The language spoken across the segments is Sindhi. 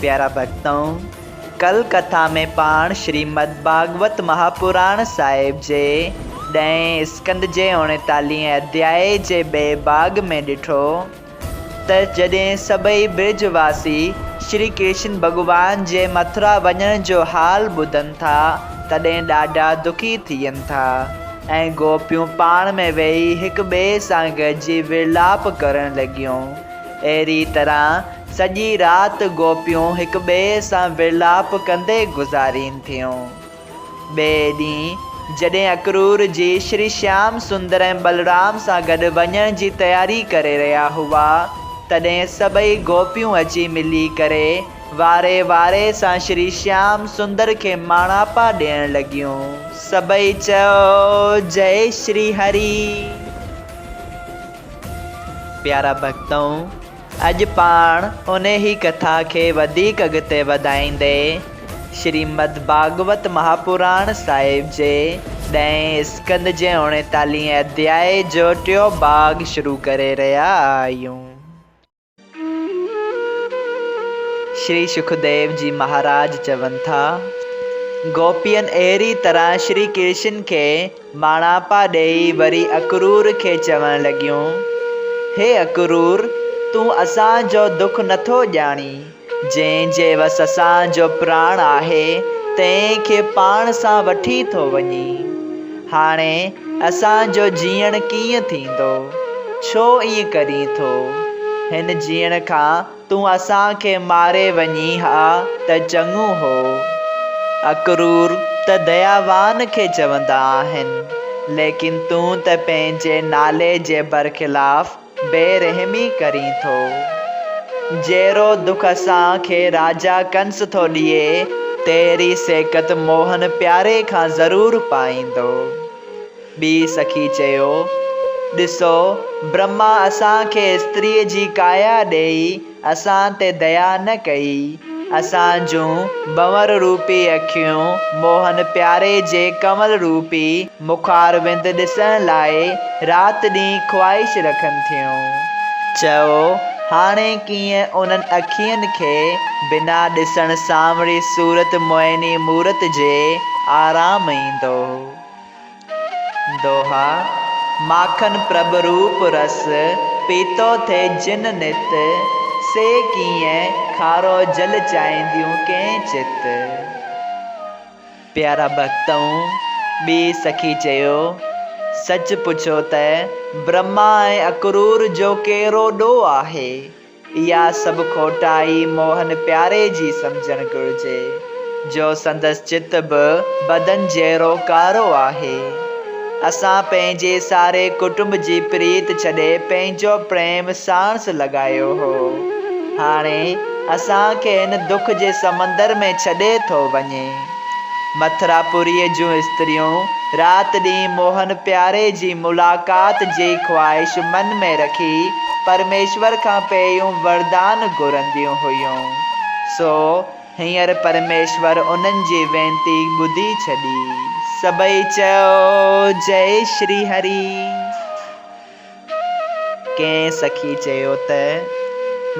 پيارا ڀڳتؤ! ڪل ڪٿا ۾ پاڻ شريمد ڀاڳوت مهاپراڻ صاحب جي ڏهين اسڪند جي اوڻيتاليهين اڌياء جي ٻئي ڀاڳ ۾ ڏٺو ته جڏهن سڀئي برج واسي شري ڪرشن ڀڳوان جي مٿرا وڃڻ جو حال ٻڌن ٿا تڏهن ڏاڍا دکي ٿين ٿا ۽ گوپيون پاڻ ۾ ويهي هڪ ٻئي سان گڏجي ورلاپ ڪرڻ لڳيون اهڙي طرح سڄي رات گوپيون هڪ ٻئي سان ورلاپ ڪندي گذارين ٿيون. ٻئي ڏينهن جڏهن اڪرور جي شري شيام سندر ۽ بلرام سان گڏ وڃڻ جي تياري ڪري رهيا هئا، تڏهن سڀئي گوپيون اچي ملي ڪري واري واري سان شري شيام سندر کي ماڻاپا ڏيڻ لڳيون. سڀئي چئو، جئي شري هري! پيارا ڀڳتؤ! اڄ پاڻ انهي ڪٿا کي وڌيڪ اڳتي وڌائيندي شريمد ڀاڳوت مهاپراڻ صاحب جي ڏهين اسڪند جي اوڻيتاليهين اڌياء جو ٽيون ڀاڳ شروع ڪري رهيا آهيون. شري سکديو جي مهاراج چون ٿا، گوپين اهڙي طرح شري ڪرشن کي، ماڻهاپا ڏيئي وري اڪرور کي چوڻ لڳيون، هي اڪرور! تون اسان جو دک نٿو ڄاڻين، جنهن جي وس اسان جو پراڻ آهي، تنهن کي پاڻ سان وٺي ٿو وڃين. هاڻي اسان جو جيئڻ ڪيئن ٿيندو؟ ڇو ائين ڪرين ٿو؟ هن جيئڻ کان تون اسان کي ماري وڃين ها ته چڱو هو. اڪرور ته دياوان کي چوندا آهن، ليڪن تون ته پنهنجي نالي جي برخلاف بي رحمي ڪرين ٿو. جهڙو دک اسان کي راجا ڪنس ٿو ڏئي، تهڙي سيڪت موهن پياري کان ضرور پائيندو. ٻي سخي چيو، ڏسو، برهما اسان کي استريء جي ڪايا ڏيئي اسان تي ديا نه ڪئي. اسان جون ڀنور روپي اکيون موهن پياري جي ڪنول روپي مخاروند ڏسڻ لاء رات ڏينهن خواهش رکن ٿيون. چئو، هاڻي ڪيئن انهن اکين کي بنا ڏسڻ سانوري صورت موهيني مورت جي آرام ايندو؟ دوها، ماکن پرڀ روپ رس، پيتو ٿئي جن نت، سي ڪيئن کارو جل چاهينديون ڪين چت. پيارا ڀڳتؤن! ٻي سخي چيو، سچ پڇو ته برهما ۽ اڪرور جو ڪهڙو ڏوهه آهي؟ اها سڀ کوٽائي موهن پياري جي سمجهڻ گهرجي، جو سندس چت به بدن جهڙو ڪارو آهي. اسان پنهنجي ساري ڪٽنب جي پريت ڇڏي پنهنجو پريم ساڻس لڳايو هو. هاڻي اسان کي هن دک جي سمندر ۾ ڇڏي ٿو وڃي. مٿراپوريء جون استريون رات ڏينهن موهن پياري جي ملاقات جي خواهش من ۾ رکي پرميشور کان پيئيون وردان گهرنديون هيون. سو هينئر پرميشور انهن جي وينتي ٻڌي ڇڏي. سڀئي چيو، جئي شري هري! ڪنهن سخي چيو ته،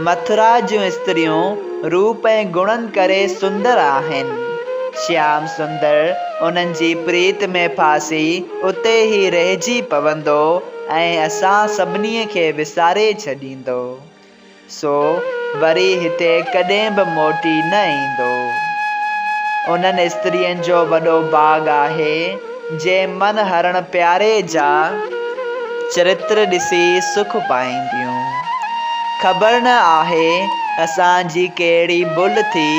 مٿرا جون استريون روپ ۽ گڻن ڪري سندر آهن. شيام سندر انهن جي پريت ۾ ڦاسي اتي ئي رهجي پوندو ۽ اسان سڀني کي وساري ڇڏيندو. سو وري هتي ڪڏهن به موٽي نه ايندو. انهن استرين جو وڏو باغ آهي، جي من هرڻ پياري جا چرتر ڏسي سک پائينديون. خبر نه آهي اسان جي ڪهڙي ڀل ٿي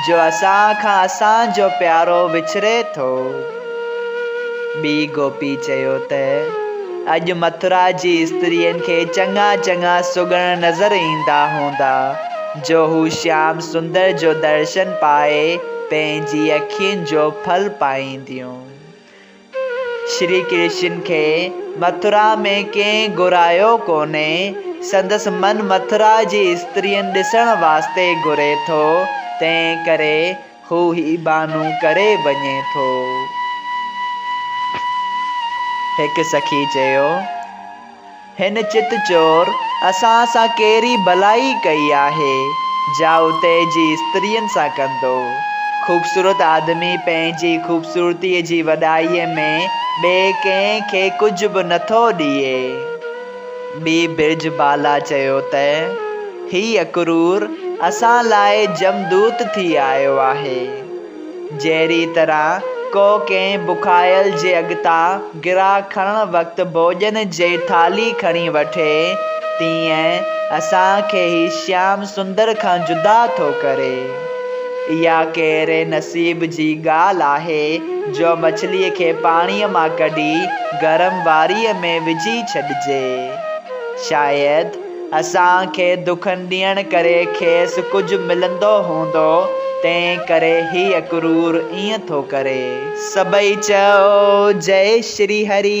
جو اسان کان اسان جو پيارو وڇڙي ٿو. بي گوپي چيو ته اڄ مٿرا جي استرين کي چڱا چڱا سگهڙ نظر ايندا هوندا جو هو شيام سندر جو درشن پائي پنهنجي اکين جو ڦل پائينديون. شري ڪرشن کي مٿرا ۾ ڪنهن گهرايو ڪونهي، سندس من مٿرا جي استرين ڏسڻ واسطي گهري ٿو، تنهن ڪري هو هي بهانو ڪري وڃي ٿو. هڪ سخي چيو، هن چت چور اسان سان ڪهڙي ڀلائي ڪئي آهي، جا اتي جي استرين سان ڪندو. خوبصورت آدمي پنهنجي خوبصورتيء جي وڏائيء ۾ ٻئي ڪنهن کي ڪجهه به نٿو ڏئي. بي برج بالا چيو ته هي اڪرور اسان لاء جمدوت ٿي آيو آهي. جهڙي طرح ڪو ڪنهن بکايل جي اڳتان گرا کڻڻ وقت ڀوڄن جي ٿالهي کڻي وٺي، تيئن اسان کي هي شيام سندر کان جدا ٿو ڪري. اها ڪهڙي نصيب جي ڳالهه آهي جو مڇليء کي پاڻيء مان ڪڍي، گرم واريء ۾ وجهي ڇڏجي. شايد اسان کي دکن ڏيڻ ڪري کيس ڪجهه ملندو هوندو، تنهن ڪري هيء ڪرور ائين ٿو ڪري. سڀئي چئو جئي شري هري.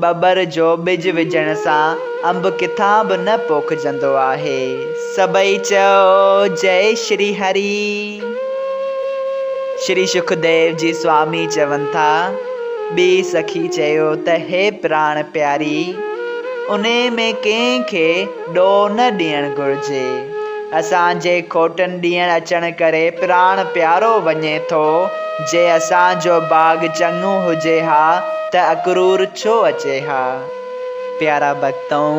ٻٻر جو ٻج وجهڻ سان انب ڪٿان به نه پوکجندو آهي. سڀئي چئو جئي شري هري. شري شڪديو جي سوامي چون ٿا، ٻي سخي چيو ته هي پراڻ پياري! انهي ۾ ڪنهن کي ڏوهه نه ڏيڻ گهرجي. اسان جي کوٽن ڏينهن اچڻ ڪري پراڻ پيارو وڃي ٿو، جي اسان جو باغ چڱو هجي ها ته اڪرور ڇو اچي ها؟ پيارا ڀڳتؤ!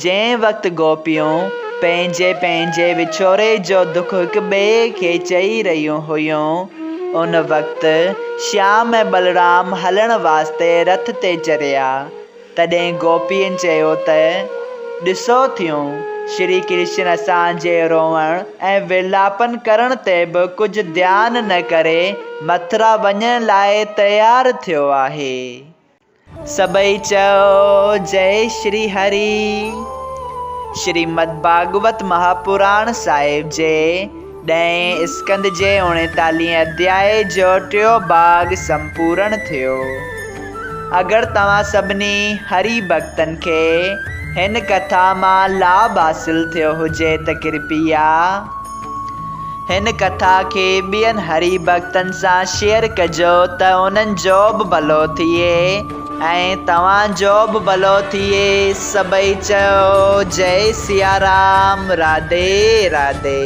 جنهن وقت گوپيون پنهنجي پنهنجي وڇوڙي جو دک هڪ ٻئي کي چئي رهيون هيون، ان وقت شيام ۽ ٻلرام هلڻ واسطي رٿ تي چريا. تڏهن گوپين چيو ته، ڏسو ٿيون، شري ڪرشن اسان جي روئڻ ۽ ورلاپن ڪرڻ تي به ڪجهه ڌيان نه ڪري مٿرا وڃڻ لاء تيار ٿيو آهي. سڀئي چئو، جئي شري هري. شريمد ڀاڳوت مهاپراڻ صاحب جي ڏهين اسڪند جي اڻيتاليهين اڌيائي جو ٽيون ڀاڳ سمپورڻ ٿيو. اگر توهان سڀني هري ڀڳتن کي هن ڪٿا مان لاڀ حاصل ٿيو هجي ته ڪرپيا هن ڪٿا کي ٻين هري ڀڳتن سان شيئر ڪجو ته انهن جو به ڀلو ٿئي. ۽ توهان جو به ڀلو ٿئي. سڀئي چيو جئي سيارام راڌي راڌي.